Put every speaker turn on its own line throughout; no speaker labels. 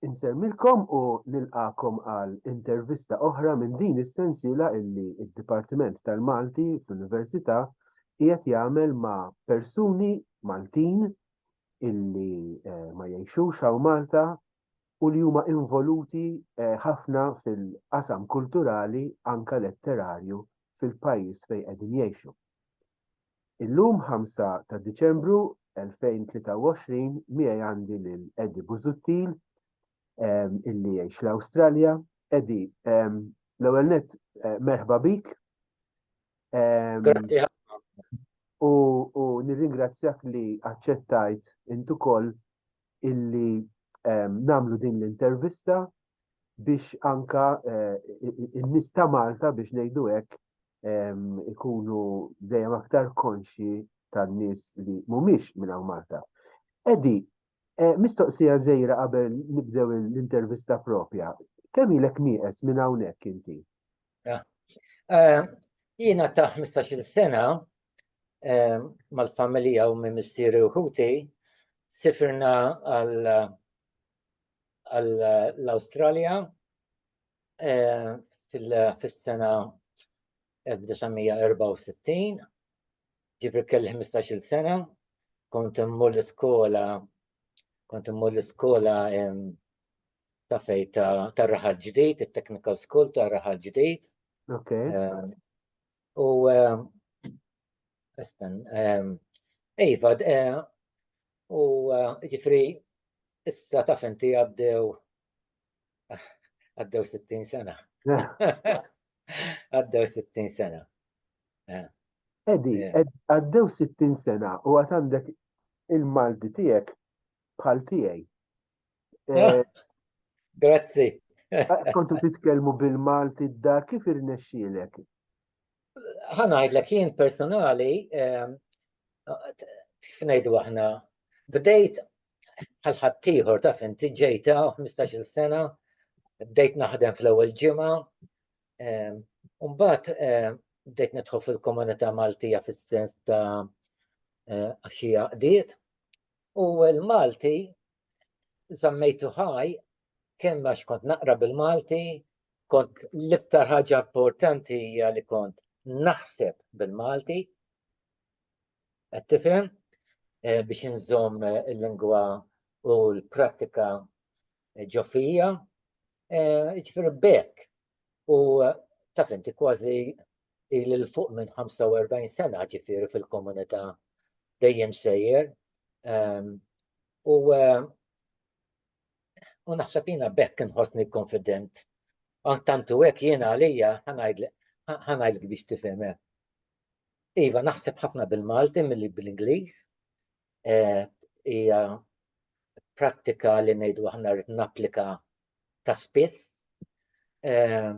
Insemmilkom u nilqakom għal intervista oħra minn din is-sensiela illi d-Dipartiment tal-Malti fl-Università qiegħed jagħmel ma' persuni Maltin illi eh, ma jgħixux hawn Malta u li huma involuti eh, ħafna fil-qasam kulturali anka letterarju fil-pajjiż fejn qegħdin jgħixu. Illum 5 ta' Diċembru 2023 miegħi għandi lil Eddie Busuttil ehm, illi jgħix l-Awstralja. Eddie, ehm, l-ewwel net eh, merħba bik. Ehm,
Grazzi u,
u nirringrazzjak li aċċettajt intu koll illi um, namlu din l-intervista biex anka uh, eh, n-nis ta' Malta biex nejdu hekk ikunu dejjem aktar konxi tan-nies li mhumiex minn hawn Malta. Edi, eh, mistoqsija żejra qabel nibdew l-intervista propja. Kemm ilek nieqes minn hawnhekk inti? Eh,
jiena ta' 15-il sena eh, mal-familja u minn missieri u ħuti sifirna għall-Awstralja eh, fil-sena 1964, ġifri kelli 15 sena, kont immur l-iskola, kont immur l-iskola ta' fej ta' raħal ġdid, il-technical school ta' raħal ġdid.
Ok. Eh, u Esten,
eh, Iva, eh, u ġifri, issa ta' fenti għabdew Għaddew 60 sena. Għaddew 60 sena. Eh. Edi,
eh. għaddew 60 sena u għat għandek il-Malti tijek bħal tijaj. Eh,
Grazzi. Kontu
titkelmu bil-Malti d-dar, kif irnexxilek?
ħanajdlek jien personali, f'nejdu aħna, bdejt bħal ħaddieħor taf inti ġejta 15-il sena, bdejt naħdem fl-ewwel ġimgħa, ehm, u mbagħad ehm, bdejt nidħol fil-komunità Maltija fis-sens ta' eh, għaxija qdiet. U l-Malti żammejtu ħaj kemm għax kont naqra bil-Malti, kont l-iktar ħaġa importanti hija li kont naħseb bil-Malti, Qed tifhem? Biex inżomm il-lingwa u l-prattika ġo fija, jiġifieri b'hekk. U taf inti kważi ili l fuq minn 45 sena ġifieri fil-komunità dejjem sejjer. Ehm, u ehm, u naħseb jiena bekk inħossni konfident. Tantu hekk jiena għalija ħanajdlek biex tifhem eh. Iva, naħseb ħafna bil-Malti milli bl-Ingliż. Eh, hija prattika li ngħidu aħna rrid napplika ta' spiss. Eh,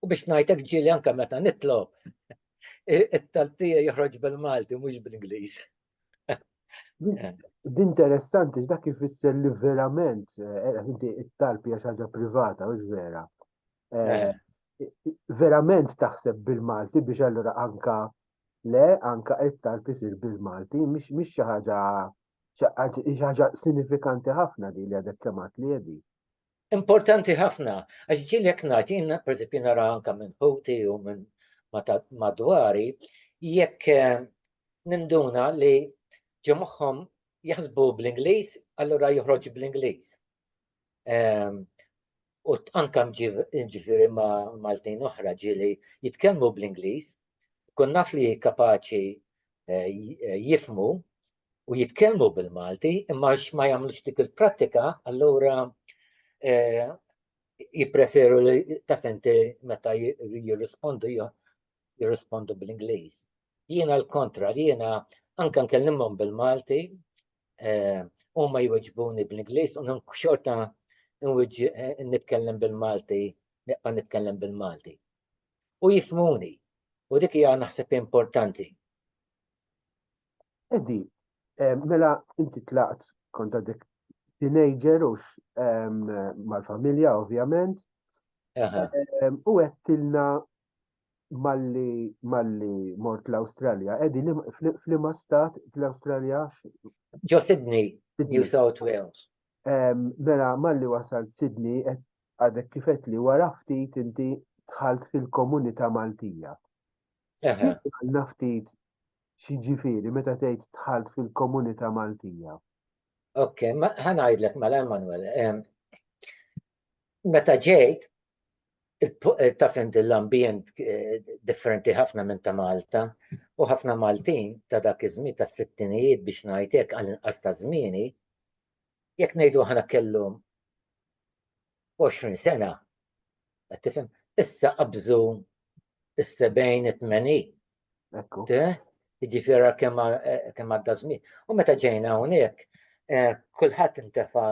u biex ngħidlek ġieli anke meta nitlob it-taltija joħroġ bil-Malti mhux bl-Ingliż.
Din interessanti, dak ifisser li verament, eh, inti it-talb hija ħaġa privata, mhux vera. Eh, eh. Verament taħseb bil-Malti biex allura anka le, anka it-talb isir bil-Malti, mhix xi ħaġa ħaġa sinifikanti ħafna di li għadek kemat li jedi. Importanti
ħafna, għax ġieli jekk ngħid jien pereżempju nara anke minn ħuti u minn madwari jekk eh, ninduna li ġo moħħhom jaħsbu bl-Ingliż, allura joħroġ bl-Ingliż. Ehm, u anka ġifiri ma' Maltin oħra ġili jitkellmu bl-Ingliż, kun naf li kapaċi eh, jifmu u jitkellmu bil-Malti imma għax ma jagħmlux dik il-prattika allura eh, jippreferu li taf inti meta jirrispondu jirrispondu bl-Ingliż. Jiena l-kontra, jiena anke nkellimhom bil-Malti, eh, huma jweġbuni bl-Ingliż u xorta eh, nitkellem bil-Malti, neqqa nitkellem bil-Malti. U jifmuni, u dik hija naħseb importanti.
Eddi, mela inti tlaqt konta dik teenager u mal-familja ovvjament. U għettilna malli malli mort l-Australja. Eddi, flima stat l-Australja? Ġo
Sydney, New South
Wales. Mela malli wasalt Sydney, għadek kifet li wara ftit inti tħalt fil-komunità Maltija.
Naftit
X'jiġifieri meta tgħid dħalt fil-komunità Maltija? Ok,
ħa ngħidlek mela Emmanuel. Meta ġejt, taf inti l-ambjent eh, differenti ħafna minn ta' Malta u ħafna Maltin ta' dak iż-żmien ta' sittinijiet biex ngħidlek għal inqas ta' żmieni, jekk ngħidu aħna kellhom 20 sena, qed tifhem? Issa qabżu is-70 it-80. Ekku.
Jiġifieri
kemm eh, kemm għadda żmien. U meta ġejna hawnhekk, eh, kulħadd intefa'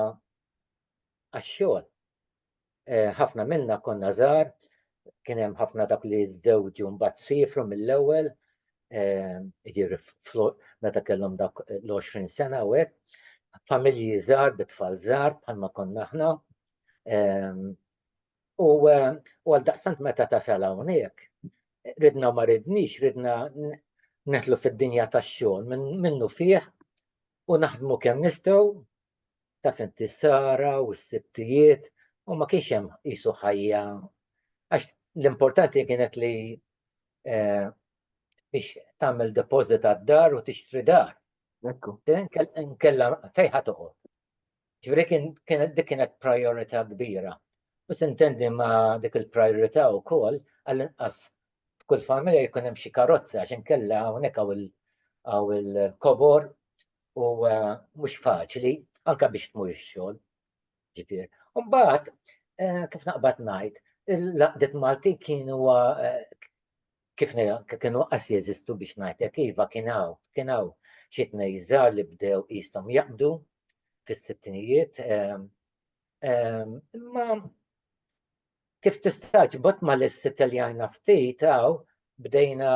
għax-xogħol. Eh, ħafna minna konna żgħar, kien hemm ħafna dak li żewġu mbagħad siefru mill-ewwel jiġifieri meta kellhom dak l-20 sena u hekk. Familji żgħar bi tfal żgħar bħalma konna aħna. U għal daqsant meta tasal hawnhekk, ridna ma ridniex, ridna neħlu fid-dinja tax-xogħol minnu fih u naħdmu kemm nistgħu taf inti s-sara u s-sibtijiet u ma kienx hemm qisu ħajja għax l-importanti kienet li eh, biex tagħmel deposit għad-dar u tixtri dar. Ekku.
Nkella
fejħa toqgħod. Ġifieri kien dik kienet priorità kbira. U sintendi ma' dik il-priorità wkoll għall-inqas f'kull familja jkun hemm xi karozza għax inkella hawnhekk hawn il-kobor u eh, mhux faċli anke biex tmur ix-xogħol. Ġifier. Mbagħad eh, kif naqbad ngħid, il-laqdet Malti kienu eh, kif kienu qas jeżistu biex ngħidlek iva kien hawn, kien hawn xi tnejżar li bdew qishom jaqbdu fis-sittinijiet. Imma kif tistax bot ma l-issit li għajna ftit għaw bdejna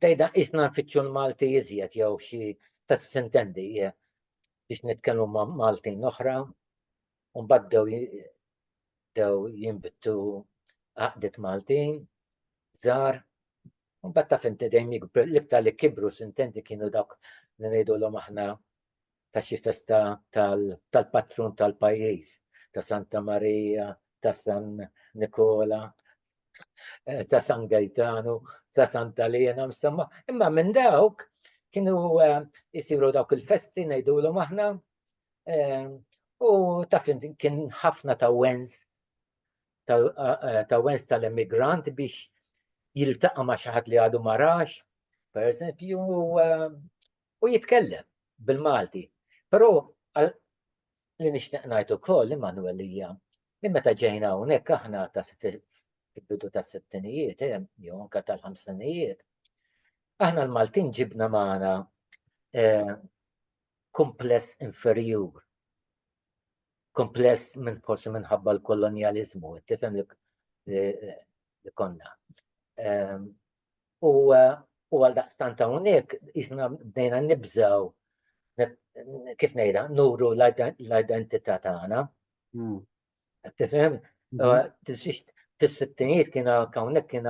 Tgħidha qisna nfittxu l-Malti iżjed jew xi taf x'intendi biex nitkellmu ma' Maltin oħra u mbagħad bdew bdew jinbtu għaqdiet Maltin żgħar u mbagħad taf inti dejjem l-iktar li kibru x'intendi kienu dawk li ngħidulhom aħna ta' xi festa tal-patrun tal-pajjiż, ta' Santa Marija, ta' San Nikola, eh, ta' San Gajtanu, ta' Santa Lena, insomma, imma minn dawk kienu eh, jisiru dawk il-festi ngħidulhom aħna eh, u taf kien ħafna ta' wens ta' wens tal-emigrant biex jiltaqa' ma' xi ħadd li għadu marax, per eżempju, u jitkellem bil-Malti. Però li nixtieq ngħid ukoll Immanuel hija li meta ġejna hawnhekk aħna ta' fil-bidu tas-sittinijiet eh, jew anke tal-ħamsinijiet, aħna l-Maltin ġibna magħna eh, kumpless inferjur. Kumpless minn forsi minħabba l-kolonjaliżmu, tifhem li eh, konna. Ehm, U għal daqstant hawnhekk jisna bdejna nibżaw kif ngħidha nuru l-identità tagħna. Hmm. Tifhem? Hmm. Fis-sittinijiet kien hawnhekk kien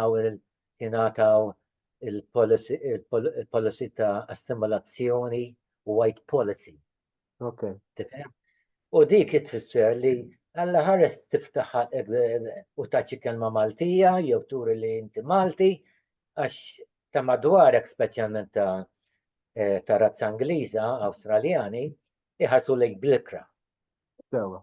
kien għataw il-policy ta' assimilazzjoni white policy. Okay. U dik tfisser li għalla ħares tiftaħ u taċi kelma Maltija, jew turi li inti Malti, għax ta' madwarek speċjalment ta' eh, ta' razza Ingliża, Awstraljani, iħasu lejk blikra. Sewa.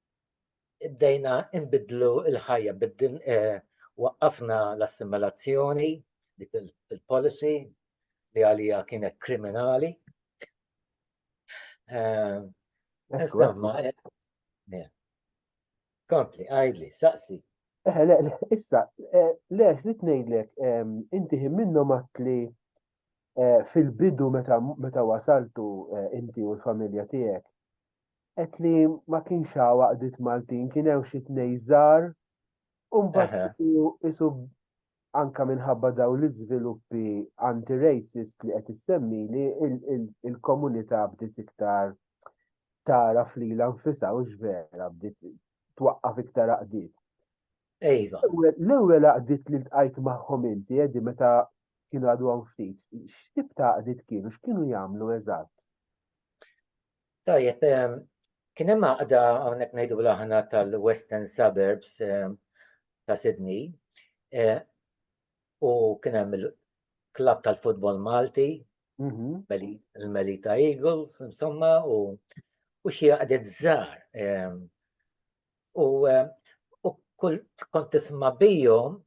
bdejna nbidlu l-ħajja, biddin eh, waqqafna l-assimilazzjoni, dik il-policy li għalija kienet kriminali. Eh, insomma, eh, kompli, għajdli, saqsi. Eħe,
issa, lex li tnejdlek, ehm, inti minnu matli fil-bidu meta wasaltu inti u l-familja tijek, Qed li ma kienx hawn għaqdiet Maltin, kien hemm xi tnej żgħar u mbagħad isu anka minħabba daw l-iżviluppi anti-racist li qed issemmi li il-komunità bdiet iktar tara flila nfisha u x'vera bdiet twaqqaf iktar għaqdiet.
Ejva. L-ewwel
għaqdiet li tqajt magħhom inti qegħdi meta kienu għadu ftit, x'tib ta' għaqdiet kienu, x'kienu jagħmlu eżatt? Tajjeb,
kien hemm għaqda hawnhekk ngħidu l-aħna tal-Western Suburbs ta' Sydney u kien hemm il-klabb tal-futbol Malti, mhm. il-Melita Eagles, insomma, u xi għaqdet żgħar. U kont tisma' bijom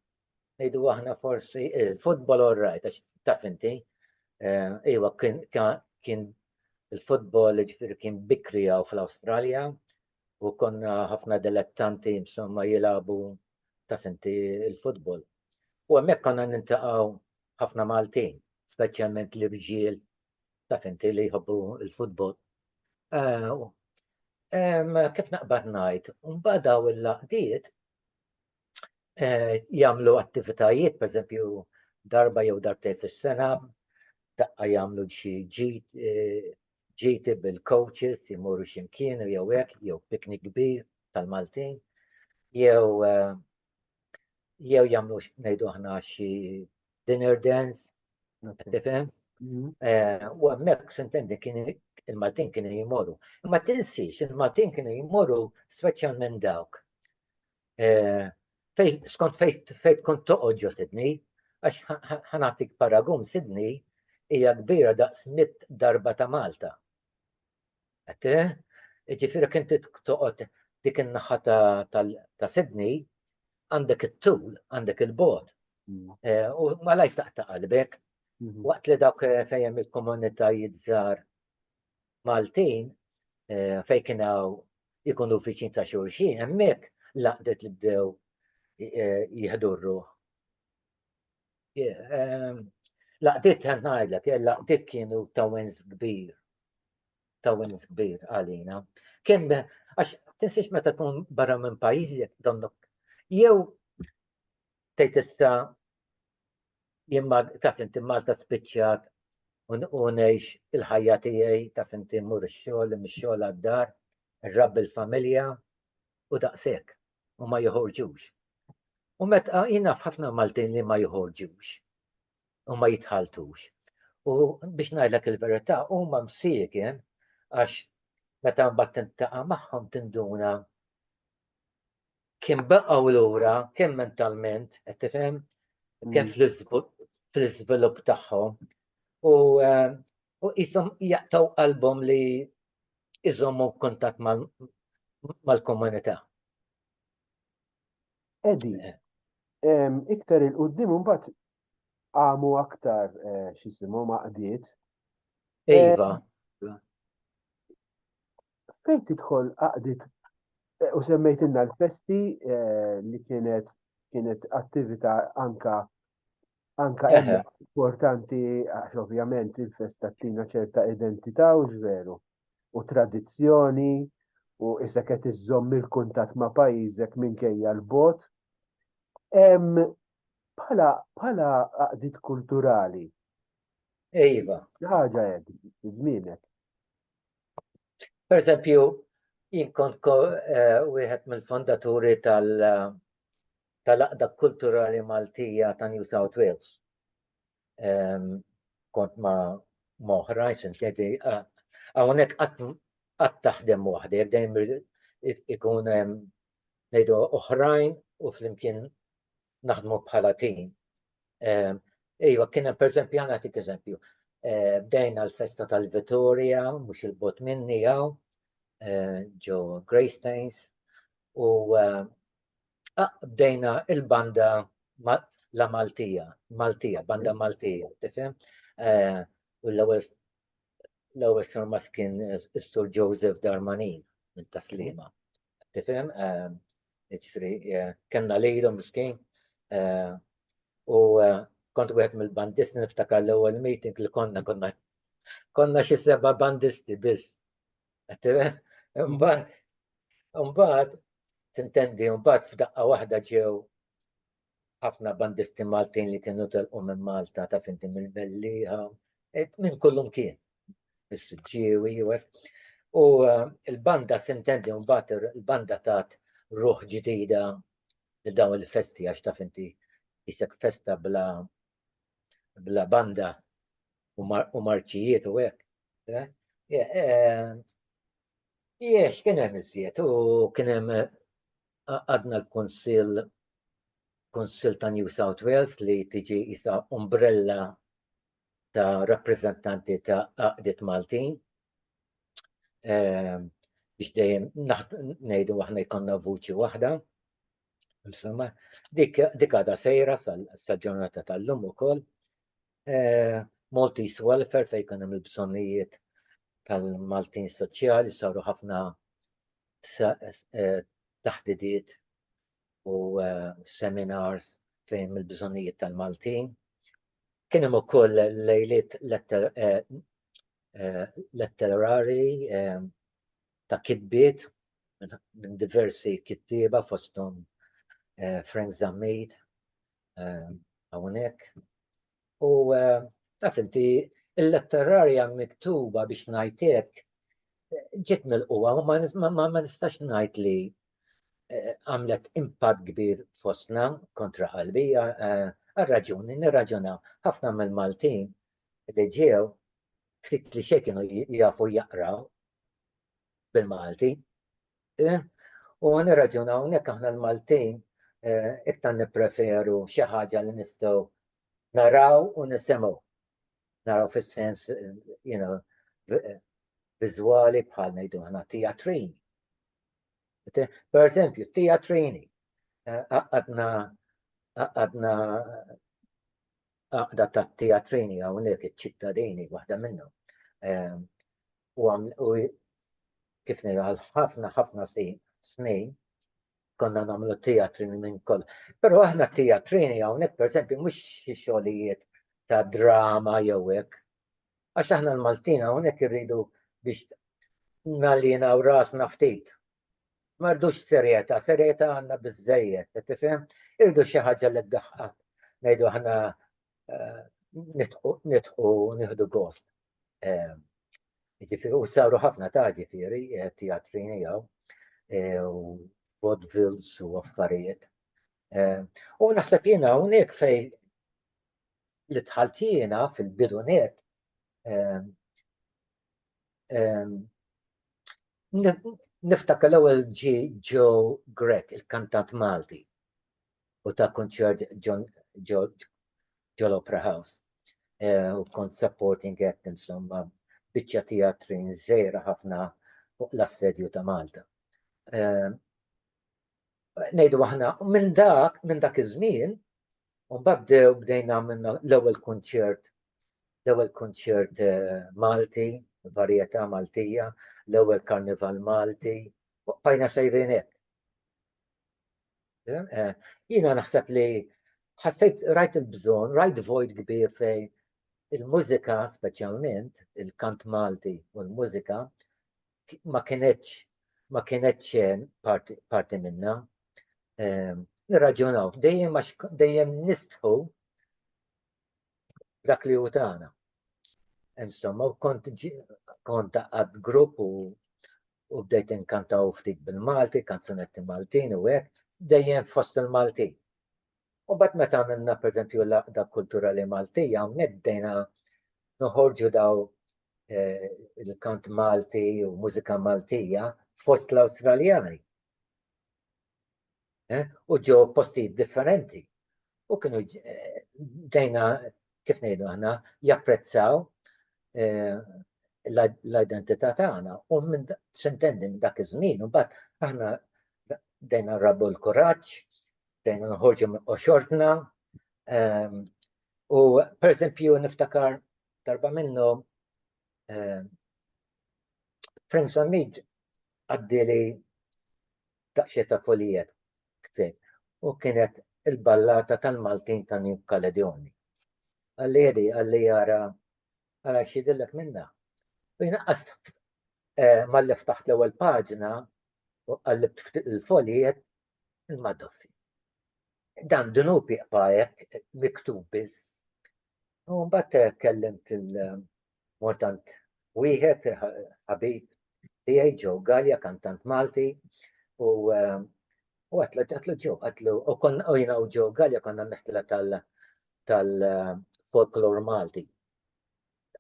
ngħidu aħna forsi il-futbol all right, għax taf inti, eh, iwa kien il-futbol ġifir kien bikri għaw fl-Australja u konna ħafna dilettanti insomma jilabu taf inti il-futbol. U għemmek konna nintaqaw ħafna Maltin, specialment li rġiel taf inti li jħobbu il-futbol. Eh, kif naqbad najt, un badaw il-laqdiet jagħmlu attivitajiet, pereżempju darba jew darbtejn fis-sena, daqqa jagħmlu xi ġid ġiti bil-coaches jmorru ximkien u jew hekk jew piknik kbir tal-Maltin jew eh, jew jagħmlu ngħidu aħna xi dinner dance tifhem mm-hmm. eh, u hemmhekk sintendi kien il-Maltin kienu jmorru. Imma tinsiex il-Maltin kienu jmorru speċjalment dawk Skont fejn kont toqgħod ġo Sydney, għax ħa nagħtik paragun, Sydney hija kbira daqs mitt darba ta' Malta. Qed Jiġifieri inti toqgħod dik in-naħa ta' Sydney għandek it-tul, għandek il-bogħod. U malajr taqta' qalbek. Waqt li dawk fejn hemm il-komunitajiet żgħar Maltin fejn kien hawn ikunu viċin ta' xulxin, hemmhekk l-għaqdiet li bdew jieħdu r-ruħ. Ehm, laqdiet ħan ngħidlek, eh, laqdiet kienu ta' wens kbir. Ta' wens kbir għalina. Kemm għax tinsiex meta tkun barra minn pajjiżek donnok jew Tgħid issa jien taf inti Malta spiċċat u ngħix il-ħajja tiegħi taf inti mmur ix-xogħol, mix-xogħol għad-dar, nrabbi l-familja u daqshekk u ma joħorġux. U meta jien naf ħafna Maltin li ma joħorġux u ma jitħaltux. U biex ngħidlek il-verità huma msieken għax meta mbagħad tintaqa' magħhom tinduna kien baqgħu lura kemm mentalment, qed tifhem, kemm fl-iżvilupp tagħhom u qishom jaqtaw qalbhom li jżommu kuntatt mal-komunità.
Edi, iktar il-qoddim mbagħad għamu aktar x'jisimhom għaqdiet.
Iva.
fejn tidħol għaqdiet eh, u semmejtilna l-festi eh, li kienet kienet attività anka anka importanti għax ovvjament il-festa tina ċerta identità u ġveru u tradizzjoni u issa qed iżżomm il-kuntatt ma' pajjiżek minkejja l-bot. Bħala bħala qaqdiet kulturali.
Ejva. Ħaġa
hekk żmienek. Per
eżempju, jien kont wieħed mill-fondaturi tal-Aqda Kulturali Maltija ta' New South Wales. Kont ma' moħrajn, sentejti, hawnhekk qatt taħdem waħdek, dejjem ikun hemm ngħidu oħrajn u flimkien naħdmu bħala tim. Ejwa, kien hemm pereżempju għana tik eżempju. Eh, bdejna l-festa tal-Vittoria, mhux il-bot minni għaw, eh, ġo Greystains, u eh, ah, bdejna il-banda la Maltija, Maltija, banda Maltija, tifhem? U l-ewwel l-ewwel sur maskin is-sur Joseph Darmanin minn Taslima. tifhem, ġifri, kellna lejlu miskin, u kont wieħed mill-bandisti niftakar l-ewwel meeting li konna konna konna xi seba' bandisti biss. Tifhem? Imbagħad imbagħad tintendi imbagħad f'daqqa waħda ġew ħafna bandisti Maltin li kienu telqu minn Malta ta' finti mill-Mellieħa, minn kullu mkien, is-Siġġiewi, u l-banda sintendi mbagħad il-banda tat ruħ ġdida li dawn il-festi għax ta' finti jisek festa bla bla banda u marċijiet u hekk. Jiex, kien hemm iżjed u kien hemm għadna l-Kunsill Kunsill ta' New South Wales li tiġi isa umbrella ta' rappreżentanti ta' għaqdiet Maltin. Ehm, biex dejjem ngħidu aħna jkollna vuċi waħda. Insomma, dik għada sejra sal-ġurnata tal-lum ukoll. eh, Maltese Welfare fejn kien hemm il-bżonnijiet tal-Maltin soċjali saru ħafna eh, taħdidiet u eh, seminars fejn il-bżonnijiet tal-Maltin. Kien hemm ukoll lejliet eh, letterari ta' kitbiet minn diversi kittieba fosthom Frank Zammit, eh, hawnhekk. U eh, taf inti il-letterarja miktuba biex ngħidlek ġiet mill-qwa ma nistax ngħid li eh, għamlet impatt kbir fosna kontra qalbi eh, għal-raġuni nirraġuna ħafna mill-Maltin li ġew ftit li xejn kienu jafu jaqraw bil-Malti U għan raġun hawnhekk aħna l-Maltin eh, iktar nippreferu xi ħaġa li nistgħu naraw u nisimgħu. Naraw fis-sens you know, viżwali bħal ngħidu aħna teatrini. Per eżempju, teatrini eh, għadna għadna għaqda ta' teatrini hawnhekk iċ-ċittadini waħda minnhom. Ehm, u kif ngħidu għal ħafna ħafna snin konna nagħmlu teatrini minn koll. Però aħna teatrini hawnhekk pereżempju mhux xi xogħlijiet ta' drama jew hekk. Għax aħna l-Maltin hawnhekk irridu biex nalina u rasna ftit Ma rdux serjetà, serjetà għandna biżżejjed, qed tifhem? Irdu xi ħaġa li ddaħħal. Ngħidu aħna eh, nidħu nieħdu gost. Eh, jiġifieri u saru ħafna ta' ġifieri eh, teatri jew u vaudevils u affarijiet. U naħseb jiena hawnhekk fej li tħaltina fil-bidunet Niftakar l-ewwel ġi Joe Grek, il-kantant Malti, u ta' kunċert ġol Opera House. Eh, u kont supporting act insomma biċċa teatrin żejra ħafna fuq l-assedju ta' Malta. Eh, ngħidu aħna, minn dak, minn dak iż-żmien, u bdew bdejna minna l-ewwel kunċert, l-ewwel kunċert eh, Malti, varjetà Maltija, l-ewwel karnival Malti, u bqajna sejrin hekk. Eh, eh, jiena naħseb li ħassejt rajt il-bżonn, rajt void kbir fejn il-mużika speċjalment, il-kant Malti u l-mużika, ma kienetx ma kienetx eh, parti minna. Eh, nirraġunaw, dejjem għax dejjem nistħu dak li hu tagħna. Insomma, kont kont għad grupp u u bdejt inkantaw ftit bil-Malti, kanzunetti Maltin u hekk, dejjem fost il-Maltin. U mbagħad meta għamilna pereżempju l-Għaqda Kulturali Maltija hawnhekk bdejna noħorġu daw eh, il-kant Malti u mużika Maltija fost l-Awstraljani. Eh, u ġew postijiet differenti. U kienu eh, bdejna kif ngħidu aħna japprezzaw l-identità tagħna u minn xintendi minn dak iż-żmien u mbagħad aħna dejna rabu l-kuraġġ bdejna noħorġu minn qoxortna. Ehm, u per eżempju niftakar darba minnu ehm, Friends on Need għaddili daqxie ta' folijet ktin u kienet il-ballata tal-Maltin ta' New Kaledoni. Għalli jedi, għalli jara, għara xidillek minna. U jina għast eh, mal-lef taħt l-ewel paġna u għallib il-folijet il-Madoffi. Dan dunub iqba hekk miktub biss. U mbagħad kellimt il-mortant wieħed ħabib tiegħi ġew Galja kantant Malti u u għatlu għatlu ġew għatlu u konna u jina u ġew Galja konna meħtila tal tal folklor Malti.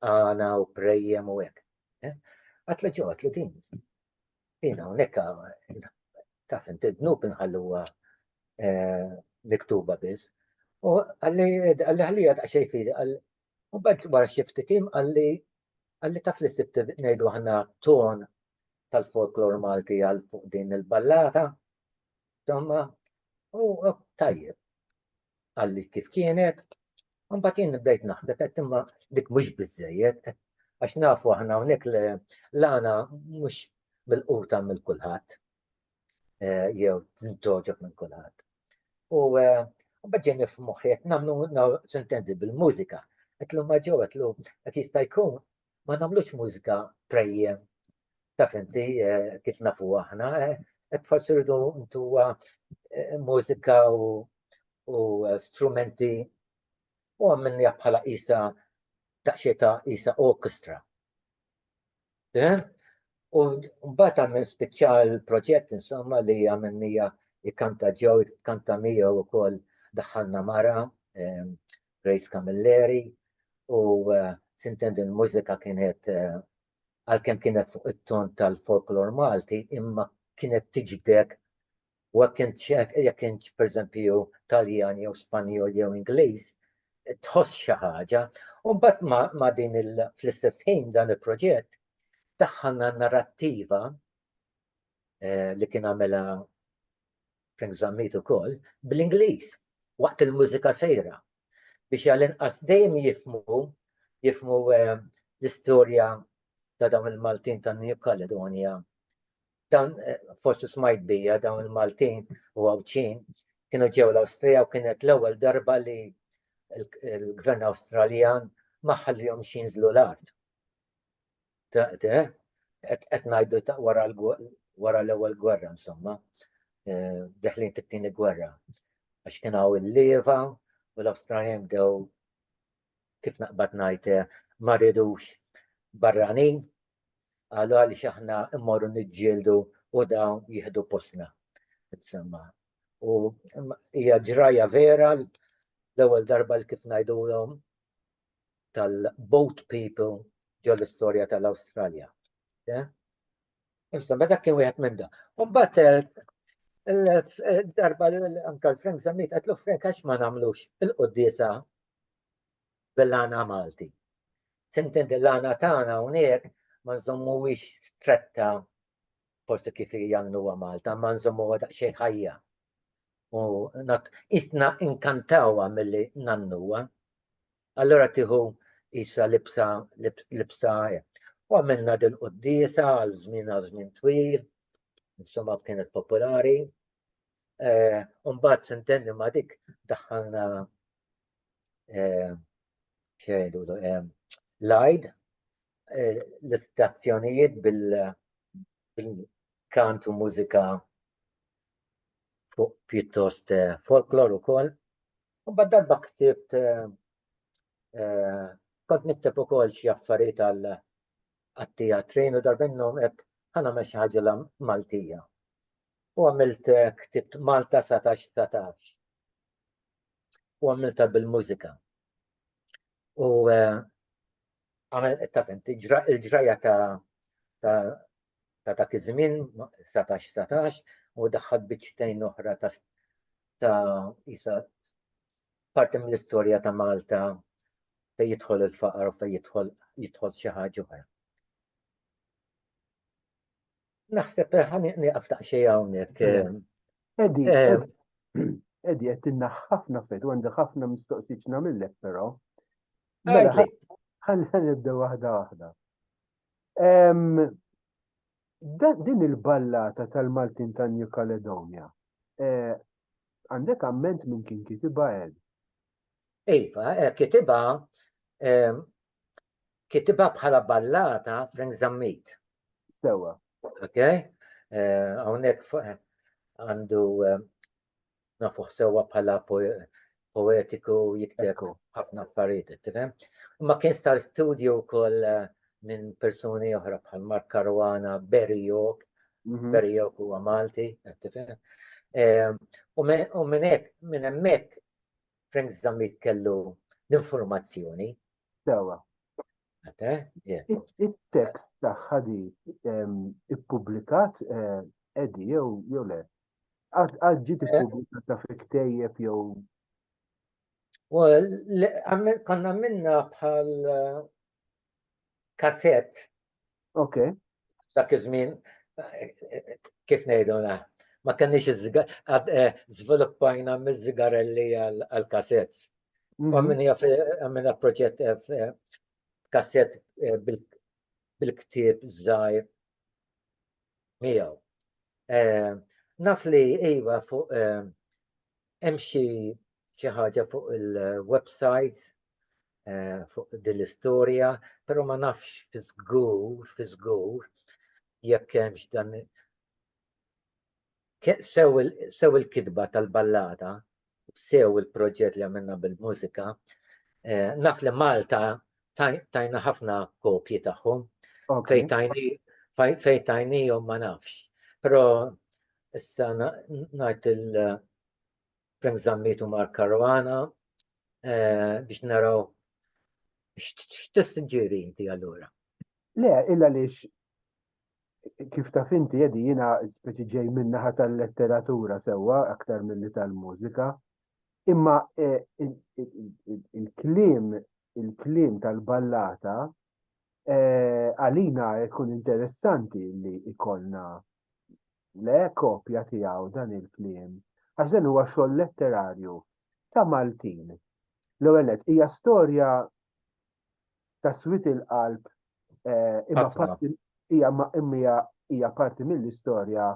Għana u prejjem u hekk. Eh? Għatlu ġew għatlu din. Jina hawnhekk taf inti dnub inħalluha eh, miktuba biss. U għalli ħalija ta' xejn fili għal u bad wara xi ftit im għalli għalli taf li sibt ngħidu aħna ton tal-folklor Malti għal fuq din il-ballata. Domma, u tajjeb, għalli kif kienet, un batin bdejt naħseb, għet imma dik mux bizzejiet, għax nafu ħana unik l-għana mux bil-quta mill kulħat, eh, jew toġob minn kulħat. U eh, bħġeni f-muħiet, namlu sentendi bil-mużika, għetlu maġo, għetlu għet jistajkun, ma nagħmlux mużika prejjem taf inti kif nafu aħna, qed forsi rridu ntuwa mużika u, u strumenti u għammin bħala isa daqsxejn ta' isa orkestra. Eh? U mbagħad għamil spiċċa l-proġett insomma li għamilnija ikkanta ġew, ikkanta miegħu wkoll daħħalna mara, ehm, Grace Camilleri u sintendi l-mużika kienet għalkemm kienet fuq it-ton tal-folklor Malti imma kienet tiġbdek u jekk kint pereżempju Taljan jew Spanjol jew Ingliż tħoss xi ħaġa. U mbagħad ma' din fl-istess ħin dan il-proġett daħħalna narrattiva li kien għamilha Frank Zammit ukoll, bl-Ingliż waqt il-mużika sejra biex għall-inqas dejjem jifhmu jifhmu l-istorja ta' dawn il-Maltin ta' New Caledonia. Dan eh, forsi smajt bija dawn il-Maltin u Għawdxin kienu ġew l-Awstrija u kienet l-ewwel darba li l-Gvern Awstraljan ma ħallihom xinżlu l-art. qed ngħidu wara l-ewwel gwerra insomma, eh, deħlin fit-tieni gwerra. Għax kien hawn il-lieva u l-Awstraljan bdew kif naqbad ngħid eh, ma ridux barranin għalu għaliex aħna immorru niġġieldu u dawn jieħdu postna. Insomma, u hija ġraja vera l-ewwel darba li kif ngħidulhom tal-boat people ġol-istorja tal-Awstralja. Insomma, dak kien wieħed minn da. Umbat, darba anka l-Frank Zammit, għatlu Frank għax ma namlux il-qoddisa bil-lana Malti. Sintin il-lana tana unek ma nżommu wix stretta forse kif jannu Malta, ma nżommu għadaq xej ħajja. u not isna inkantawa milli nannuwa. Allora tieħu isa libsa libsa u għamilna din qudiesa għal żmien għal żmien twil, insomma kienet popolari. Eh, Umbat sentenni ma dik daħħalna eh, xejdu eh, lajd l-istazzjonijiet bil-kant u mużika fuq pjuttost eh, folklor ukoll. U bad darba ktibt eh, eh, kont nikteb ukoll xi affarijiet għal għat-teatrin u darba minnhom qed ħana mex ħaġa la Maltija. U għamilt ktibt Malta 17 19. U għamilta bil-mużika. U għamel ta' fent, il-ġraja ta' ta' dak iż-żmien, 19-19, u daħħad biċċtejn oħra ta' ta' isa parti mill-istorja ta' Malta fejn jidħol il-faqar u fejn jidħol jidħol xi ħaġa oħra. Naħseb eh, ħani nieqaf taqxej hawnhekk. Edi,
Edi, qed tinna ħafna fed, u għandha ħafna mistoqsiġ nagħmillek però. Mela, ħalli nibda waħda waħda. Din il-ballata tal-Maltin ta' New Caledonia, eh, għandek amment minn kien kitiba għed? Iva,
eh, kitiba Kitibha bħala ballata Frank Zammit.
Sewa. Ok?
Hawnhekk għandu nafuh sewa bħala poetiku jikteb ħafna affarijiet, tifhem? Ma kien star studio wkoll minn persuni oħra bħal Mark Caruana, Barry York, mhm. Barry York huwa Malti, tifhem? U minn hekk, minn hemmhekk Frank Zammit kellu l-informazzjoni. Sewa. Il-tekst
tagħha di ippubblikat edi eh, jew le. Għad ġiet eh? ippubblikat ta' fi ktejjeb jew.
Konna minna bħal kassett. Ok.
Dak iż-żmien
kif ngħidu na, ma kenniex eh, żviluppajna miż-żigarelli għal-kassett. Mhm. Għamilna proġett eh, kassett eh, bil-ktieb żgħir miegħu. Naf li iva fuq Hemm xi xi ħaġa fuq il-websites eh, fuq din l-istorja, però ma nafx fi żgur, fi żgur jekk hemmx dan sew il-kitba tal-ballata, sew il-proġett li għamilna bil-mużika, eh, naf li Malta tajna ħafna kopji tagħhom, fejn tajnijom ma nafx. Però Issa ngħid il-Frank Zammitu Mark Caruana eh, biex naraw x'tisġieri inti allura. Le, illa
lix kif ta' finti jedi jina speċi ġej minnaħa tal-letteratura sewa aktar mill-li tal-mużika. Imma eh, il-klim, il-klim tal-ballata Eh, għalina jkun interessanti li ikolna le kopja tiegħu dan il-kliem, għax dan huwa xogħol letterarju ta' Maltin. L-ewwel hija storja ta' swit il-qalb eh, imma hija hija parti mill-istorja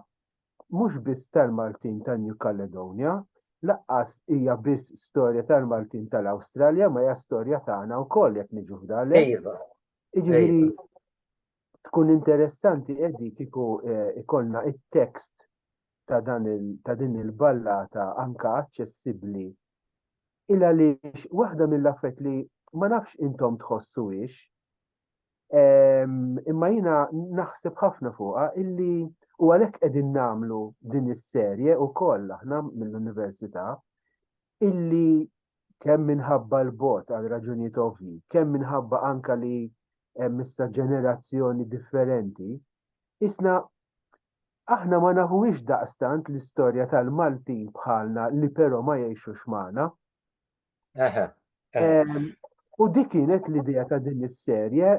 mhux biss tal-Maltin ta' New Caledonia, laqqas hija biss storja tal-Maltin tal-Awstralja ma hija storja tagħna wkoll jekk niġu f'dalek. Iva. Jiġifieri iva. tkun interessanti qegħdi kieku eh, ikollna it-tekst ta' dan ta' din il-ballata anka aċċessibbli. Illa li waħda mill-affett li ma nafx intom tħossu ix, imma jina naħseb ħafna fuqa illi u għalek edin namlu din is-serje u koll aħna mill-Università illi kemm minħabba l-bot għal raġunijiet ovvi, kemm minħabba anka li hemm issa ġenerazzjoni differenti, isna aħna ma nafuwix daqstant l-istorja tal-Maltin bħalna li però ma jgħixux magħna. U dik kienet l-idea ta' din is-serje,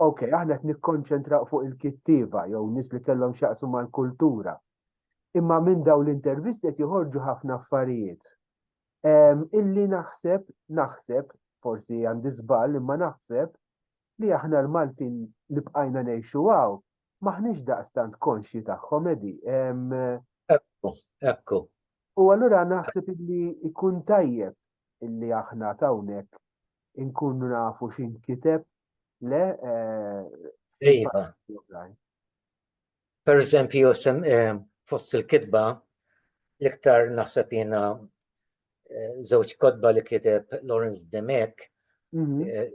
ok, aħna qed nikkonċentraw fuq il-kittieva jew nies li kellhom x'jaqsmu mal-kultura. Imma minn daw l-intervisti qed joħorġu ħafna affarijiet. Illi naħseb, naħseb, forsi għandi żball imma naħseb li aħna l-Maltin li bqajna ngħixu hawn M'aħniex daqstant konxji tagħhom, Edi. Ekku,
ekku. U allura
naħseb li jkun tajjeb illi aħna tawnek inkunu nafu xin kiteb le eh,
Iva. Per eżempju, eh, fost il-kitba, l-iktar naħseb jena żewġ eh, kodba li kiteb Lawrence Demek mhm. eh,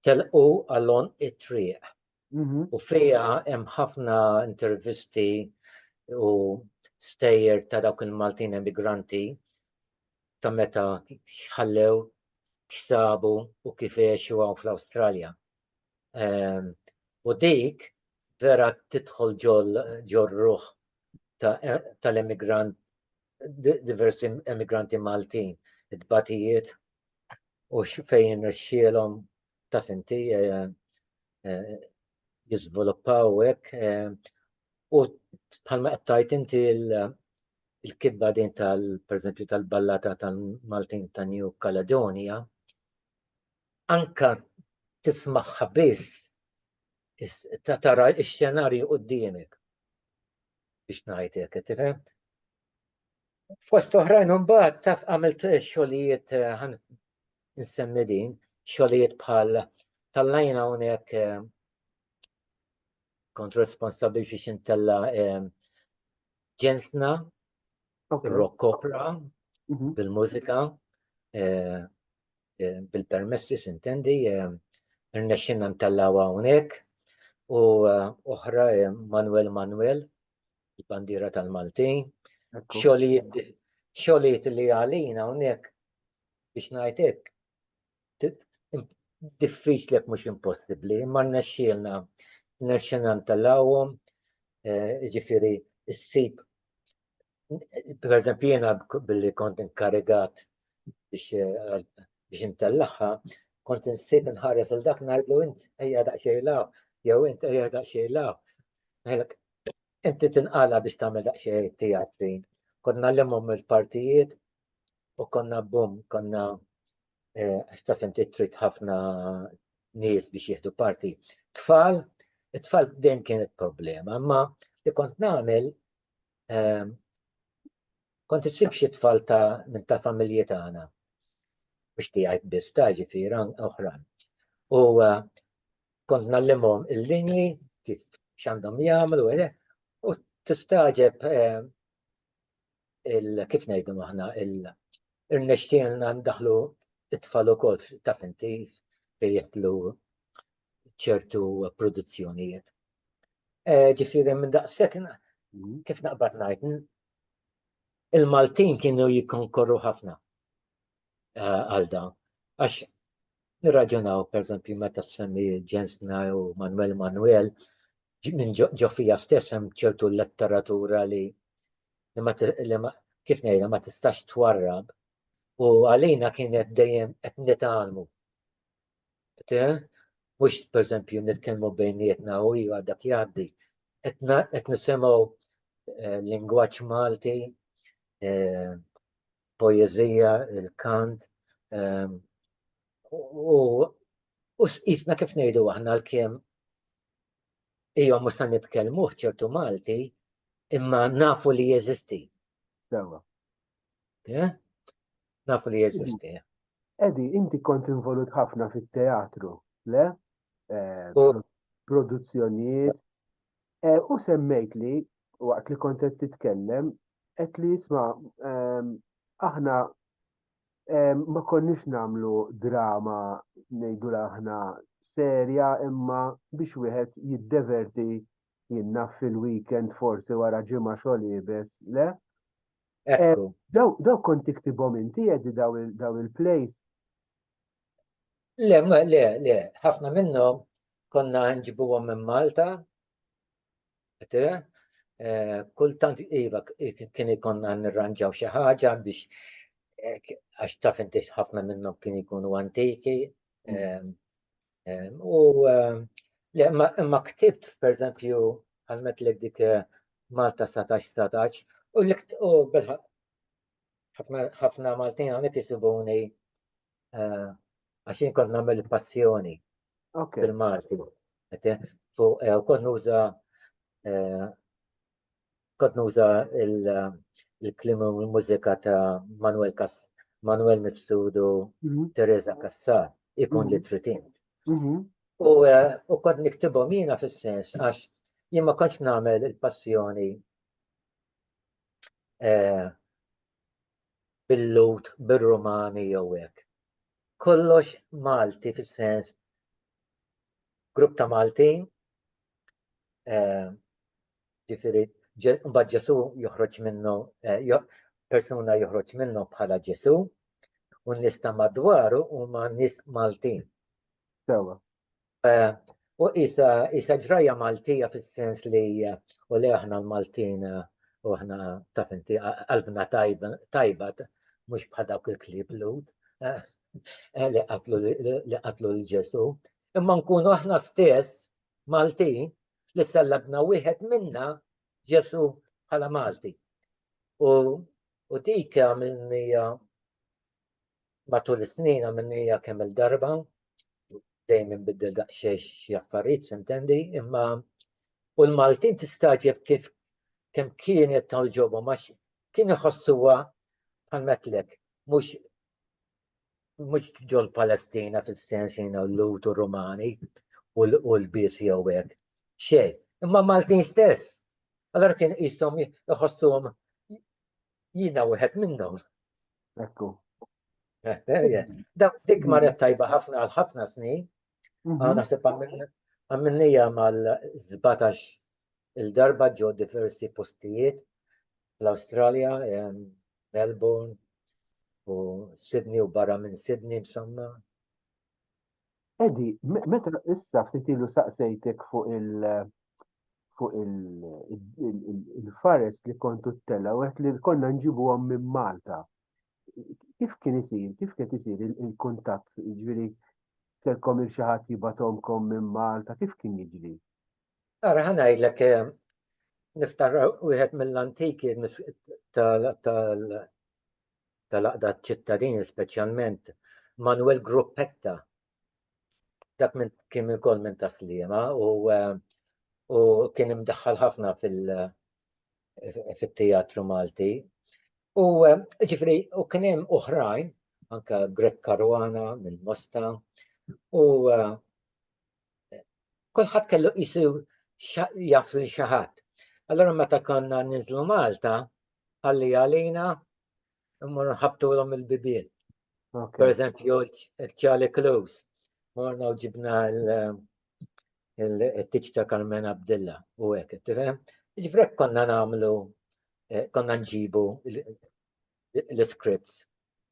telqu għallon it-triq. u fiha hemm ħafna intervisti u stejjer ta' dawk il-Maltin emigranti ta' meta ħallew x'sabu u kif għexu hawn fl-Awstralja. Ehm, u dik vera tidħol ġol ruħ e-, tal-emigrant diversi emigranti Maltin, it-batijiet u fejn rxielhom taf inti jiżviluppaw hekk u bħalma qed tajt inti il-kibba din tal pereżempju tal-ballata tal-Maltin ta' New Caledonia anka tismagħha biss ta' tara x-xenarju quddiemek biex ngħid hekk tifhem. Fost oħrajn imbagħad taf għamilt xogħlijiet nsemmi din, xogħlijiet bħal tallajna hawnhekk eh, kont responsabbli biex intella eh, ġensna rock opera mhm. bil-mużika eh, bil-permessi sintendi rnexxinna ntellaw hawnhekk u oħra Manuel Manuel il-bandiera tal-Maltin xogħlijiet li għalina hawnhekk biex ngħid hekk, diffiċli jekk mhux impossibbli, imma nnexxielna nnexxielna ntellawhom, eh, ġifieri ssib pereżempju jiena billi kont inkarigat biex eh, biex intellagħha, kont insib nħares il dak ngħidlu int ejja daqsxejn law, jew int ejja daqsxejn law. Inti tinqala biex tagħmel daqsxejn teatri. Konna l-immhom il-partijiet u konna bum, konna eh, għax taf inti trid ħafna nies biex jieħdu parti. Tfal, it-tfal dejjem kienet problema, imma li kont nagħmel ehm, kont issib xi tfal ta' minn ta' familji tagħna biex tiegħid biss ta' ġifieri oħrajn. U eh, kont nallimhom il-lingwi kif x'għandhom jagħmlu u tistaġeb ehm, kif ngħidu aħna irnexxielna ndaħlu it-tfal ukoll ta' finti jitlu ċertu produzzjonijiet. E, ġifieri minn daqshekk kif naqbad ngħid il-Maltin kienu jikkonkorru ħafna e, għal dan. Għax Nirraġunaw, pereżempju, meta ssemmi Jensna u Manwel Manwel, minn ġo fija stess hemm ċertu letteratura li li ma kif ngħidha ma tistax twarrab u għalina kienet dejjem qed nitgħallmu. Mhux pereżempju nitkellmu bejnietna u iva dak jgħaddi. Qed nisimgħu lingwaġġ Malti poeżija, il-kant, ehm, u jisna kif ngħidu aħna l-kem ija mhux se nitkellmu ċertu Malti, imma nafu li jeżisti. Sewa. Eh? Nafu li jeżisti. Edi, inti
kont involut ħafna fit-teatru, le? Eh, produzzjonijiet. Eh, u semmejt li waqt li kont qed titkellem qed li jisma' ehm, aħna ehm, ma konniex nagħmlu drama ngħidu aħna serja imma biex wieħed jiddeverti jinna fil-weekend forsi wara ġimgħa xogħol jibes, le? Eh, daw kont tiktibhom inti jedi daw il-plays. Le,
le, le, ħafna minnhom konna nġibuhom minn Malta, eh, kultant iva kien ikonna nirranġaw xi ħaġa biex eh, għax taf inti ħafna minnhom kien ikunu antiki. Mm. Ehm, ehm, u ehm, le, ma ktibt, per eżempju, għalmet l dik eh, Malta 17-17, u l-ikt u ħafna Maltin hawnhekk jisibuni eh, għax jien kont nagħmel passjoni fil-Malti. Fuq eh, kont nuża eh, kont nuża il-klim u l-mużika ta' Manuel Kas Manuel Mifsudu mhm. Teresa Kassar ikun mhm. li tritint. Mhm. U kont niktibhom jiena fis-sens għax jien ma kontx nagħmel il-passjoni bil-Lhud, bir-Rumani jew hekk. Kollox Malti fis-sens grupp ta' Maltin, ġifieri mbagħad Ġesu joħroġ minnu persuna joħroġ minnu bħala Ġesu u n-nies ta' madwaru huma nies Maltin. Sewa. U isa isa ġrajja Maltija fis-sens li u le aħna l-Maltin u aħna taf inti qalbna tajba mhux bħal dawk il-klieb lud li qatlu li qatlu l Ġesu. Imma nkunu aħna stess Maltin li sellabna wieħed minna Ġesu bħala Malti. U u dik għamilni Matul is-snin għamilniha kemm il-darba, dejjem inbiddel daqsxejn xi affarijiet sintendi, imma u l-Maltin tistagħġeb kif kemm kienet tawġobhom għax kien iħossuha bħal metlek, mhux mhux ġol Palestina fis-sens jiena l-Lut u Rumani u l-bies jew hekk. Xejn, imma Maltin stess. Allora kien qishom iħossuhom jiena wieħed minnhom.
Ekku. Eh, eh, eh.
Da dik marret tajba ħafna għal ħafna snin. Mhm. Ah, naħseb għamilnija mal-17 il-darba ġo diversi postijiet l-Australia, Melbourne, u Sydney u barra minn Sydney b'samma.
Edi, meta issa ftit ilu saqsejtek fuq il- fuq il-fares li kontu t-tela u għet li konna nġibu għom minn Malta. Kif kien isir, kif kien isir il-kuntat, ġviri, kelkom il-xaħat jibatomkom minn Malta, kif kien jiġri? Ara
ħanajdlek, eh, niftar wieħed mill-antiki tal-Għaqda ċ-Ċittadini speċjalment Manuel Gruppetta dak minn kien ukoll minn ta' Sliema u u kien imdaħħal ħafna fil fit-teatru Malti. U ġifri, u kien hemm oħrajn, anka Greg Caruana mill-Mosta, u kulħadd kellu qisu jaf lil xi ħadd. Allora meta konna ninżlu Malta, għalli għalina mmur nħabtulhom il-bibien. Per eżempju, Charlie Close, morna u ġibna il-tiċ ta' Carmen Abdilla u għek, tifem? Ġifrek konna namlu, eh, konna nġibu l-scripts.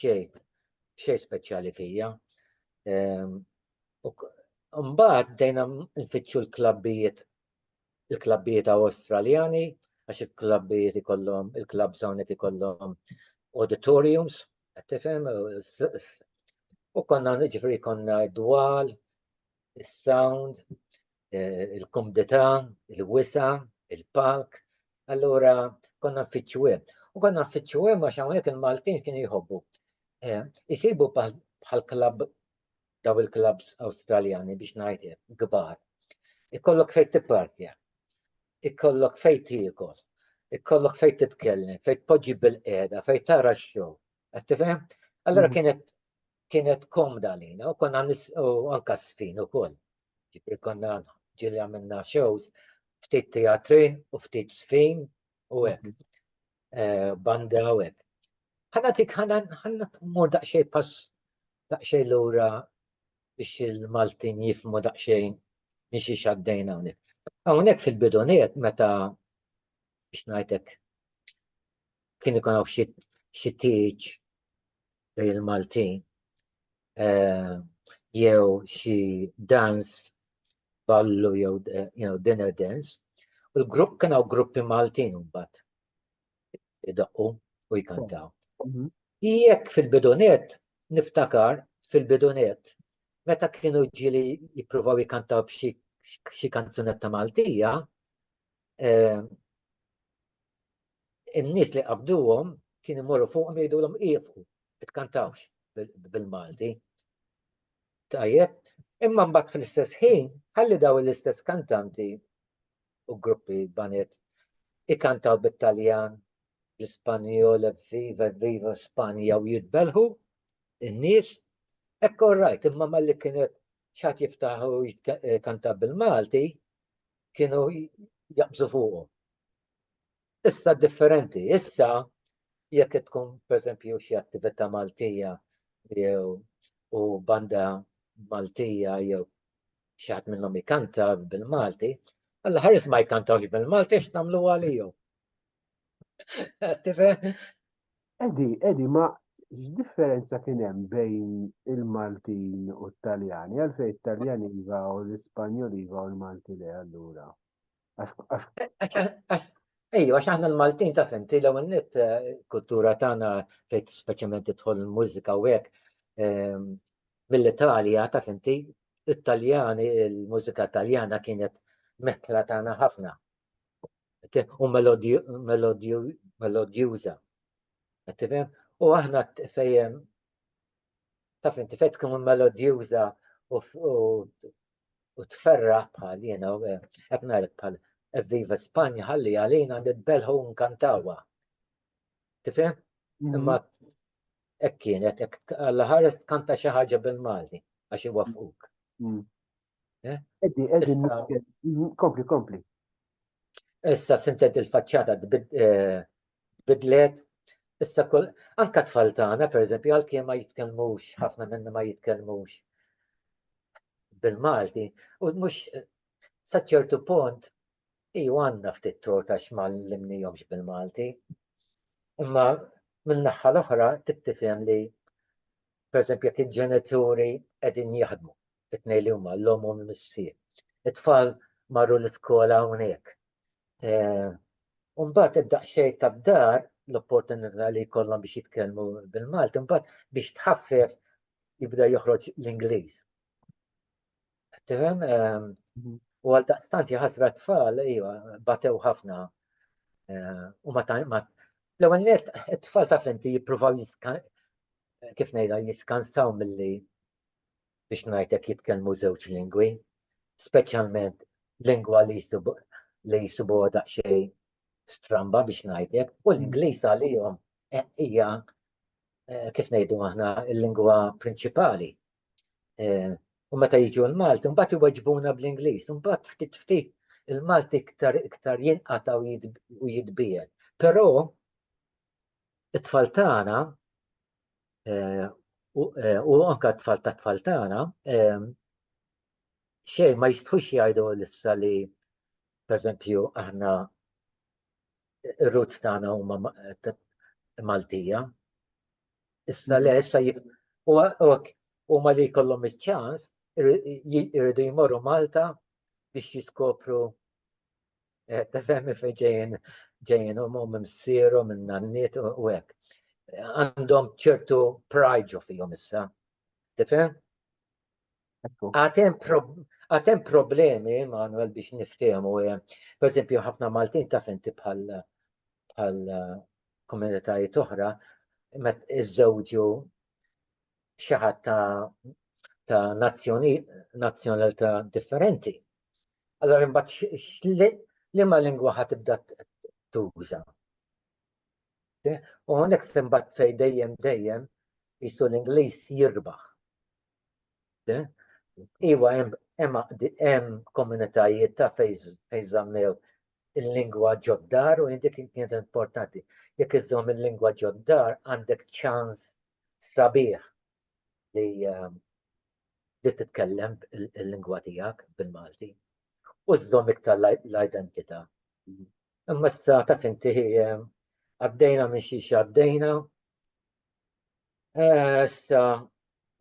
xejn, xejn speċjali fija. Ehm, mbagħad dejna nfittxu l-klabbijiet il-klabbijiet Awstraljani għax il-klabbijiet ikollhom il-klabb hawnhekk ikollhom auditoriums, qed tifhem, u konna ġifri konna dwal, is-sound, eh, il-komdità, il-wisa, il-palk, allura konna nfittxu hemm. U konna nfittxu hemm għax hawnhekk il-Maltin kien jħobbu. Eh, isibu bħal klab daw il-klabs Awstraljani biex ngħidlek kbar. Ikollok fejn tippartja, ikollok fejn tiekol, ikollok fejn titkellem, fejn tpoġġi bil-qiegħda, fejn tara x-show. Qed tifhem? Allura mhm. kienet kienet komda lina u konna u anka sfin u koll. Ġifieri konna ġieli għamilna shows, ftit teatrin u ftit żfin u hekk. Eh, banda u hekk. Ħana tik ħana ħana mur daqsxejn pass daqsxejn lura biex il-Maltin jifmu daqsxejn minn xi xaddejna hawnhekk. Hawnhekk fil-bidoniet meta biex ngħidlek kien ikun hawn xi tieġ bejn il-Maltin jew xi dans ballu jew dinner dance. U l-grupp kien hawn gruppi Maltin mbagħad idaqqu u jkantaw. Mhm. Jekk fil-bidunet, niftakar fil-bidunet, meta kienu ġili jippruvaw jkantaw b'xi kanzunetta Maltija, eh, in-nies li qabduhom kien imorru fuqhom jgħidulhom ieqfu, itkantawx bil-Malti. Tajjeb, imma mbagħad fl-istess ħin ħalli daw l-istess kantanti u gruppi banet ikantaw bit-Taljan, bl-Ispanjol, viva, viva Spanja u jitbelħu in-nies. Ekku rajt, imma malli kienet xat jiftaħu kanta bil-Malti, kienu jaqbżu fuqhom. Issa differenti, issa jekk qed tkun pereżempju xi attività Maltija jew u banda Maltija jew xi ħadd minnhom ikanta bil-Malti, alla ħares ma jkantawx bil-Malti għax nagħmlu għalihom.
Edi, edi, ma x'differenza kien hemm bejn il-Maltin u t-Taljani? Għalfejn it-Taljani iva u l-Ispanjoli iva u l-Malti le allura?
Ejju, għax aħna l-Maltin ta' fenti l ewwel net eh, kultura tagħna fejn speċjalment tidħol il-mużika u hekk ehm, mill-Italja ta' fenti it-Taljani, il-mużika Taljana kienet metla tagħna ħafna. U melodjuża. U aħna fejjem taf inti fejn tkun melodjuża u tferra bħal jiena eh, qed ngħidlek bħal Viva Spanja ħalli għalina nitbelħu nkantawa. Tifhem? Mhm. Imma hekk kienet hekk alla ħares tkanta xi ħaġa bil-Malti għax iwaffquk. Mhm. Eh? Eddi, eddi,
mm, kompli, kompli.
Issa sintet il-facċata eh, bidlet, issa kol, anka tfal tagħna, per eżempju, għal ma jitkellmux, ħafna minna ma jitkellmux bil-Malti, u mux saċċertu punt, i għanna ftit torta xmal l-imnijomx bil-Malti, imma minn naħħa l-oħra tittifhem li per eżempju jekk il-ġenituri qegħdin jaħdmu it-tnejn li huma l-omm u l-missier. It-tfal marru l-iskola hawnhekk. Eh, u mbagħad id-daqsxejn tad-dar l-opportunità li jkollhom biex jitkellmu bil-Malti, mbagħad biex tħaffef jibda joħroġ l-Ingliż. Tifhem? Ehm, mhm. U għal daqstant jaħasra tfal, iva, batew ħafna. Eh, u ma ma l-ewwel net it-tfal ta' fenti jippruvaw kif ngħidha jiskansaw milli biex ngħidlek jitkellmu żewġ lingwi, speċjalment lingwa li jsibu li jsibu daqsxejn stramba biex ngħidlek, u l-Ingliż għalihom eh, hija eh, kif ngħidu aħna l-lingwa prinċipali. Eh, u meta jiġu l-Malti, mbagħad iweġbuna bl-Ingliż, mbagħad ftit ftit il-Malti iktar iktar jinqata' u jitbiegħed. Però it-tfal tagħna eh, eh, u anka t-tfal ta' tfal tagħna eh, xejn ma jistħux jgħidu l-issa li pereżempju aħna ir-roots tagħna huma Maltija. Issa le issa huma li jkollhom iċ-ċans irridu jmorru Malta biex jiskopru Eh, tefhem fej ġejjin ġejjin u mum msiru minn nanniet u hekk. Għandhom ċertu prajġu fihom issa. Tifhem? Għatem problemi, Manuel, biex niftehmu, eh, per esempio, ħafna Maltin taf inti bħal bħal eh, komunitajiet oħra, met iżżewġu xi ħadd ta' ta' nazzjonalità differenti. Allora imbagħad liema lingwa ħa tibda tuża. U hawnhekk imbagħad fej dejjem dejjem jistu l-Ingliż jirbaħ. Iwa hemm komunitajiet ta' fejn żammew il-lingwa ġoddar u indik kienet importanti. Jekk iżżomm il-lingwa ġoddar għandek ċans sabiħ li ehm, li titkellem il-lingwa tiegħek bil-Malti u żżomm iktar l-identità. Imma issa taf inti għaddejna minn xi għaddejna. Eh, issa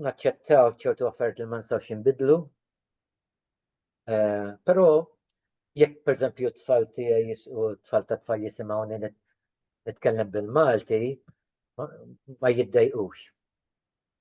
naċċettaw ċertu affarijiet li ma nistgħux inbidlu. Eh, però jekk pereżempju t-tfal tiegħi u t-tfal ta' tfal jisimgħuni nitkellem bil-Malti, ma jiddejqux.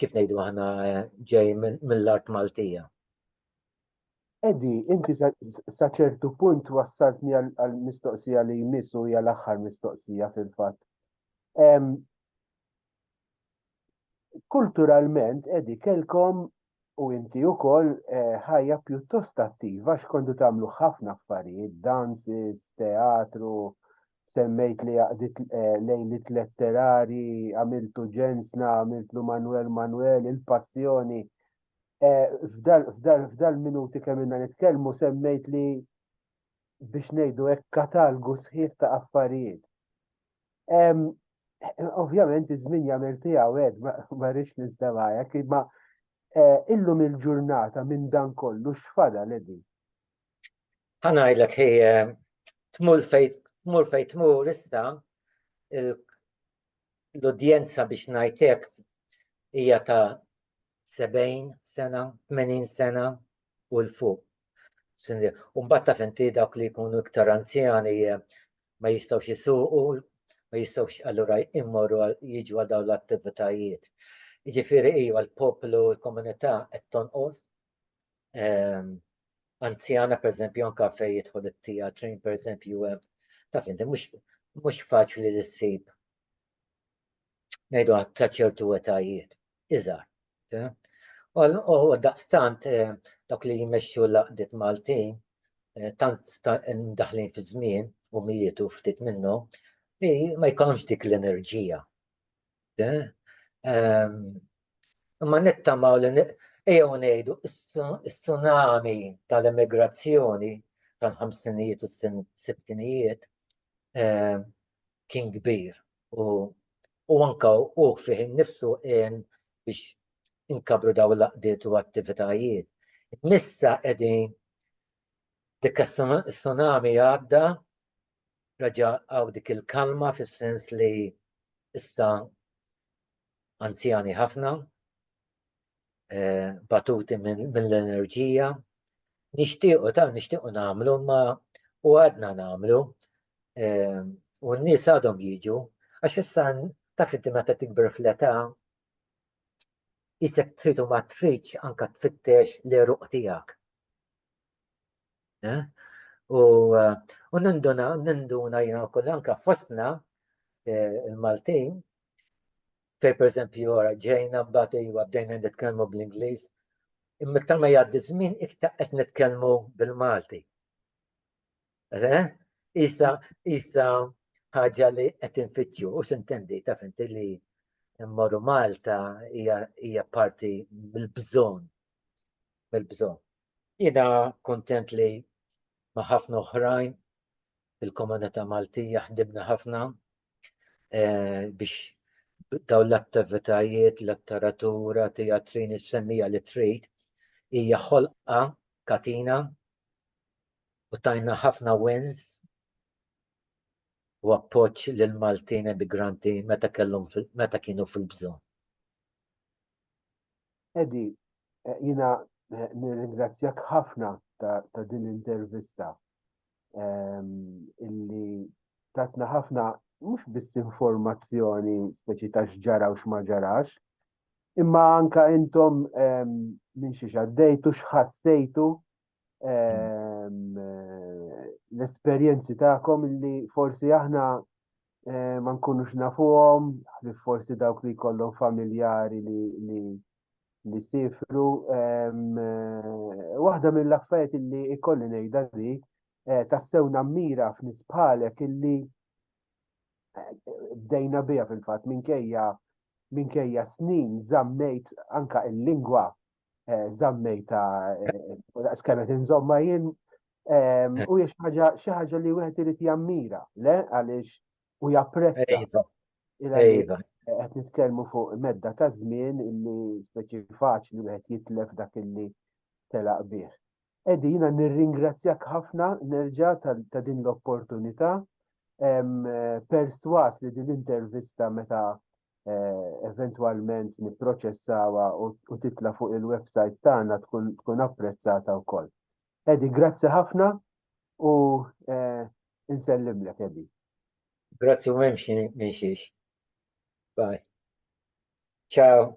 kif ngħidu aħna ġej mill-art Maltija.
Edi, inti sa ċertu punt wassaltni għal mistoqsija li jmiss u hija l-aħħar mistoqsija fil-fatt. Kulturalment, Edi, kelkom u inti wkoll eh, ħajja pjuttost attiva x'kontu tagħmlu ħafna affarijiet, dances, teatru, semmejt li għaqdit eh, lejlit letterari, għamiltu ġensna, għamiltu Manuel Manuel, il-passjoni. Eh, f'dal minuti kemm inna nitkellmu semmejt li biex ngħidu hekk katalgu sħiħ ta' affarijiet. Ovvjament iż-żmien jagħmel tiegħu għed ma rridx nistemajek, imma eh, illum il-ġurnata minn dan kollu x'fada ledi.
Ħanajdlek hi tmur fejn tmur fejn tmur issa l-udjenza biex ngħidlek hija ta' 70 sena, 80 sena u l fuq. Umbat taf inti dawk li jkunu iktar anzjani eh, ma jistgħux jisuqu, ma jistgħux allura immorru jiġu għal dawn l-attivitajiet. Jiġifieri iva l-poplu, l-komunità qed tonqos ehm, anzjana per eżempju anka fej jidħol it-tija train per eżempju hemm taf inti mhux mhux faċli li ssib ngħidu ta' ċertu etajiet iżgħar. U daqstant eh, dawk li jmexxu laqdiet Maltin eh, tant daħlin fi żmien u mietu ftit minnu li ma jkollhomx dik l-enerġija Imma nittamaw li ejjew ngħidu s-tsunami tal-immigrazzjoni tal-ħamsinijiet u s-sittinijiet kien kbir u u anka u fih innifsu in biex inkabru daw l-aqdiet u attivitajiet. Missa qegħdin Dik is-tsunami għadda, reġa' għaw dik il-kalma fis-sens li issa anzjani ħafna, eh, batuti mill-enerġija, nixtiequ ta' nixtiequ nagħmlu ma u għadna nagħmlu eh, u n-nies għadhom jiġu għax issa ta' inti meta tikber fl-età isek tridu ma tridx anka tfittex l-eruq tiegħek. Eh? U eh, ninduna, ninduna jina kull anka fostna eh, il-Maltin, fej per esempio ġejna mbagħad iwa bdejna nitkellmu bl-Ingliż, imma iktar ma jgħaddi żmien iktar qed nitkellmu bil-Malti. Eh? Isa, isa ħaġa li qed infittxu u sintendi ta' finti li mmorru Malta hija parti mill-bżonn bil-bżonn. Jiena kuntent li ma' ħafna oħrajn fil-komunità Maltija ħdibna ħafna eh, biex daw l-attivitajiet, l-attaratura, teatrin, is-semmija li trid, hija ħolqa katina u tajna ħafna wins u appoġġ lil Maltin emigranti meta kellhom meta kienu fil-bżonn.
Edi, eh, jina eh, nirringrazzjak ħafna ta' din l-intervista ehm, illi tatna ħafna mhux biss informazzjoni speċi ta' x'ġara u x'ma ġarax, imma anka intom ehm, minn xi xaddejtu x'ħassejtu ehm, l-esperjenzi tagħkom li forsi aħna eh, ma nkunux nafuhom, li forsi dawk li jkollhom familjari li li sifru. Ehm, eh, waħda mill-affarijiet li ikolli ngħidha di eh, tassew nammira f'nies bħalek illi bdejna biha fil-fatt minkejja minkejja snin zammejt anka il-lingwa eh, zammejta eh, skemet inżomma jien ehm, u jiex ħaġa xi ħaġa li wieħed irid jammira, le għaliex u japprezza. Iva. Iva. Qed nitkellmu fuq medda ta' żmien illi speċi faċli wieħed jitlef dak illi telaq bih. Eddie, jiena nirringrazzjak ħafna nerġa' ta' din l-opportunità. Perswas li din l-intervista meta eh, eventwalment nipproċessawha u titla' fuq il-website tagħna tkun apprezzata wkoll. Eddie, grazzi ħafna u eh, insellimlek Eddie. Grazzi
u memx minn xiex. Bye. Ciao.